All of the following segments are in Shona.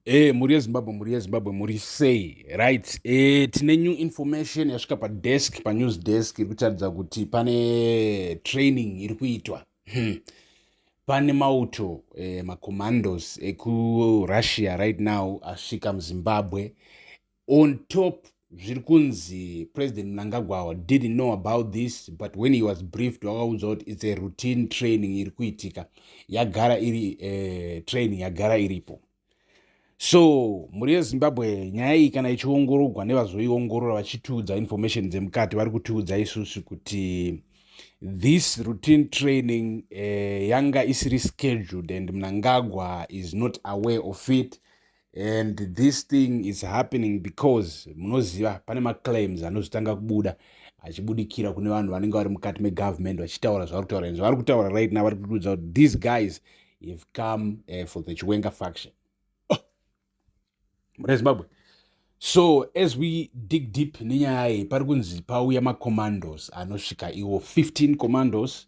Hey, eh, mhuri yezimbabwe mhuri yezimbabwe mhuri sei right e, tine new information yasvika padesk panews desk iri kutaridza kuti pane training iri kuitwa hmm. pane mauto e, macommandos ekurussia right now asvika muzimbabwe On top zviri kunzi President Mnangagwa didn't know about this but when he was briefed wakaudzwa kuti it's a routine training iri kuitika yagara iri uh, training yagara iripo so mhuri yezimbabwe nyaya iyi kana ichiongorogwa nevazoiongorora vachitiudza information dzemukati vari kutiudza isusu kuti this routine training uh, yanga isiri scheduled and mnangagwa is not aware of it and this thing is happening because munoziva pane maclaims anozvitanga kubuda achibudikira kune vanhu vanenge vari mukati megovernment vachitaura zvavari kutaura and zvavari kutaura right now vari kutiudza kuti these guys have come uh, for the chiwenga faction oh. mune zimbabwe so as we dig deep nenyaya iyi pari kunzi pauya macommandos anosvika iwo 15 commandos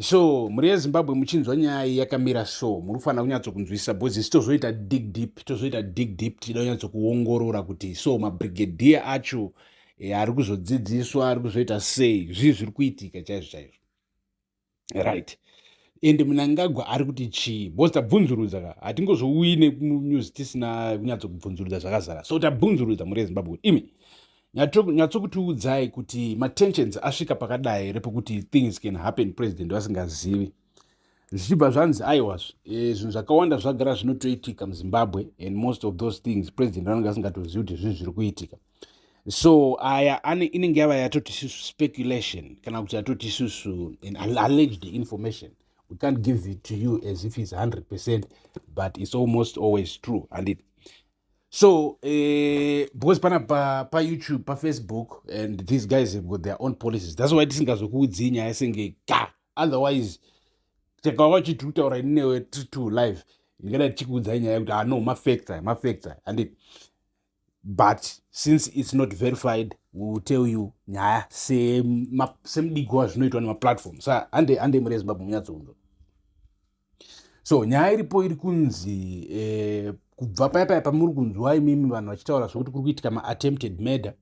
so mhuri yezimbabwe muchinzwa nyaya iyi yakamira so muri kufanira kunyatsokunzwisisa bcause isi tozoita dig deep tozoita dig deep tichida kunyatsokuongorora kuti so mabrigadier acho e, ari kuzodzidziswa ari kuzoita sei zvii zviri kuitika chaizvo chaizvo right ende munangagwa ari kuti chii bcause tabvunzurudza ka hatingozouyi nemunews tisina kunyatsokubvunzurudza zvakazara so tabvunzurudza mhuri yezimbabwe imi nyatsokutiudzai kuti matensions asvika pakadai here pekuti things can happen president vasingazivi zvichibva zvanzi aiwa eh, zvinhu zvakawanda zvagara zvinotoitika muzimbabwe and most of those things president vanenge vasingatozivi kuti zvinhu zviri kuitika so aya inenge yava yatoti isusu speculation kana kuti yatoti isusu an alleged information we can't give it to you as if it's 100 percent but it's almost always true handiti so eh, because pana pa, pa youtube pa facebook and these guys have got their own policies that's why tisingazokuudzii nyaya senge ka otherwise takawa uchiti utaura ini newe tiri two live ndingada tichikuudzai nyaya yekuti ano ah, mafacta mafacta andi but since it's not verified we will tell you nyaya semudigi wazvinoitwa nemaplatform sa hande hande mure zimbabwe munyatsounzwa so nyaya iripo iri kunzi eh, kubva paya paya pamuri kunzwa imimi vanhu vachitaura zvekuti kuri kuitika maattempted murder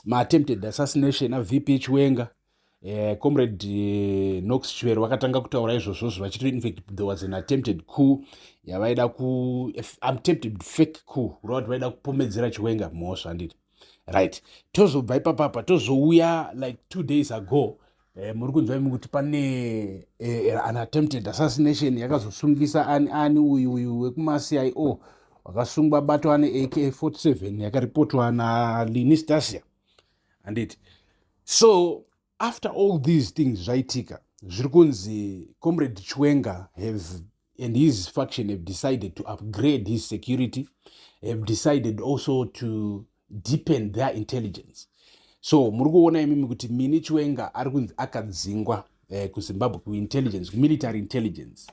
maattempted assassination avp chiwenga eh, comrade eh, nox chivero vakatanga kutaura izvozvozvo vachiti infact there was an attempted coup yavaida ku attempted fake coup kureva kuti vaida kupomedzera chiwenga mhosva handiti right tozobva ipapapa tozouya like two days ago eh, muri kunzwa imi kuti pane eh, eh an attempted assassination yakazosungisa ani ani uyu uyu wekumacio wakasungwa bato ane ak 47 yakaripotwa nalinistasia anditi so after all these things zvaitika zviri kunzi comrade chwenga have and his faction have decided to upgrade his security have decided also to deepen their intelligence so muri kuona imimi kuti mini chwenga ari kunzi akadzingwa eh, kuzimbabwe kuintelligence kumilitary intelligence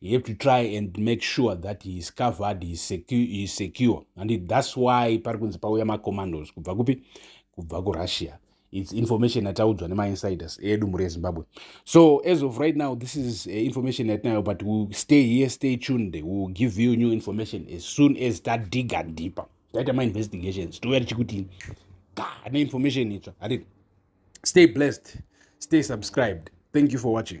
you have to try and make sure that he is covered he is secure, he is secure. and it, that's why pari kunzi pauya macommandos kubva kupi kubva kurussia its information yataudzwa nemainsiders edu mhuri yezimbabwe so as of right now this is uh, information yatinayo but will stay here stay tuned will give you new information as soon as tadiga deeper taita mainvestigations touya tichikuti ga neinformation itsva hatii stay blessed stay subscribed thank you for watching